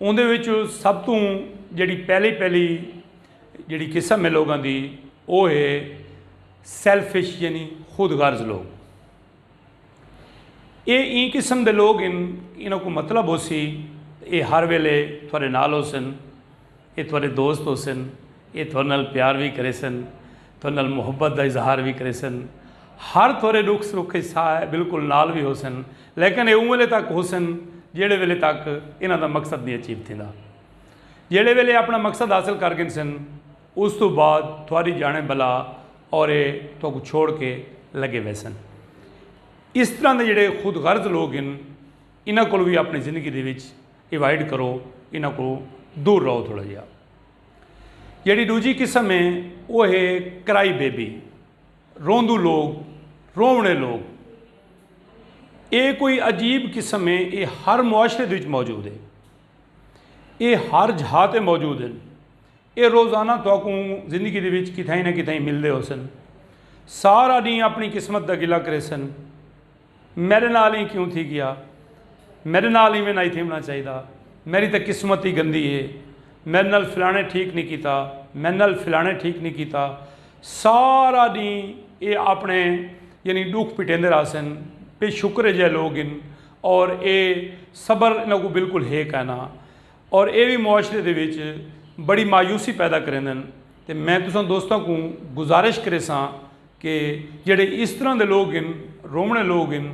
اوندے وچ سب توں جیڑھی پہلی پہلی جیڑھی قسم ہے لوگاں دی او ہے سیلفش یعنی خود غرض لوگ اے این قسم دے لوگ ان انہاں کو مطلب ہو سی اے ہر ویلے تھوڑے نال ہو سن اے تہاݙے دوست ہوسن، اے تہاݙے نال پیار وی کریسن، تہاݙے نال محبت دا اظہار وی کریسن، ہر تہاݙے ݙکھ سکھ اچ سا بالکل نال وی ہوسن، لیکن اے اوں ویلے تک ہوسن جیڑھے ویلے تک انہاں دا مقصد نی اچیو تھیندا۔ جیڑھے ویلے اے اپݨا مقصد حاصل کر گھنسن اس توں بعد تہاݙی جاݨے بلا اور اے تہاکوں چھوڑ کے لڳے ویسن۔ اس طرح دے جیڑھے خود غرض لوک ہن انہاں کول وی اپݨی زندگی دے وچ ایوائڈ کرو انہاں کو دور رہو تھوڑا جہا جیڑی دوجی قسم ہے وہ ہے کرائی بیبی روندو لوگ رونے لوگ اے کوئی عجیب قسم ہے اے ہر معاشرے دے وچ موجود ہے اے ہر جھا تے موجود ہیں اے روزانہ تو کو زندگی دے وچ کتھائیں نہ کتھائیں ملدے ہو سن سارا ڈینھ اپنی قسمت دا گلا کرے سن میڈے نال ایں کیوں تھی گیا۔ میڈے نال ایویں نائی تھیونڑاں چاہیدا۔ میڈی تاں قسمت ای گندی ہے۔ میڈے نال فلانے ٹھیک نی کیتا۔ میڈے نال فلانے ٹھیک نی کیتا۔ سارا ڈینہہ اے آپنڑے یعنی ڈکھ پٹیندے رہسن۔ بے شکر جئے لوگ ہن۔ اور اے صبر انہاں کوں بالکل ہے کائنا۔ اور اے وی معاشرے دے وچ بڑی مایوسی پیدا کریندن۔ تے میں تساں دوستاں کوں گزارش کریساں۔ کہ جیڑھے اس طرح دے لوگ ہن رومنے لوگ ہن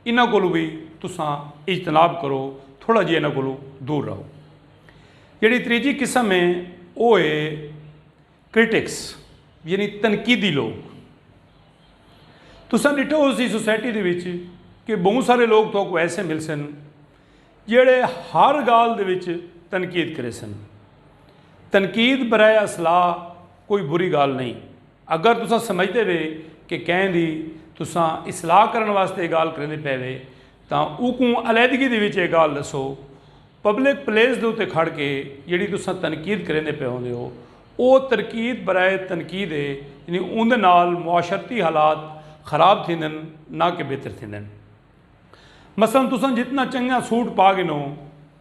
انہاں کولو بھی تساں اجتناب کرو تھوڑا جی انہاں کولو دور رہو جیڑی تریجی قسم ہے وہ ہے کرٹکس یعنی تنقیدی لوگ تساں ڈٹھو ہو سی سوسائٹی دے وچ کہ بہت سارے لوگ تو کو ایسے مل سن جیڑے ہر گال دے وچ تنقید کرے سن تنقید برائے اصلاح کوئی بری گال نہیں اگر تساں سمجھدے وے کہ کہیں دی تساں اصلاح کرݨ واسطے اے گالھ کریندے پئے وے تاں اوکوں علیحدگی دے وچ اے گالھ ݙسو۔ پبلک پلیس دے اتے کھڑ کے جیڑھی تساں تنقید کریندے پئے ہوندے ہو او ترکید برائے تنقید اے یعنی اوندے نال معاشرتی حالات خراب تھیندن نہ کہ بہتر تھیندن۔ مثلا تساں جتنا چنگا سوٹ پا گھنو۔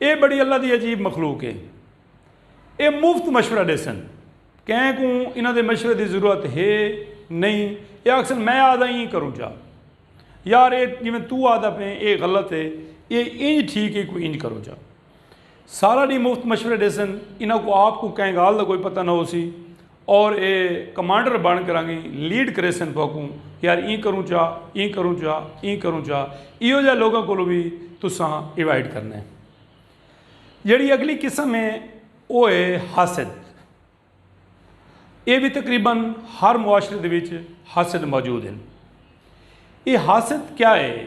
اے بڑی اللہ دی عجیب مخلوق ہے اے مفت مشورہ دے سن کہیں کو انہاں دے مشورے دی ضرورت ہے نہیں اے آکسن میں آدھا ہی کروں چاہ یار اے جی میں تو آدھا پہ اے غلط ہے اے انج ٹھیک ہے کوئی انج کروں چاہ سارا دی مفت مشورے دے سن انہاں کو آپ کو کہیں گال دا کوئی پتہ نہ ہو سی اور اے کمانڈر بن کرانگی لیڈ کریسن توکوں یار ایں کروں چا ایں کروں چا ایں کروں چا ایہو جا لوگوں کو بھی تساں ایوائڈ کرنے جیڑی اگلی قسم ہے او ہے حاسد اے بھی تقریبا ہر معاشرے دے وچ حاسد موجود ہیں اے حاسد کیا ہے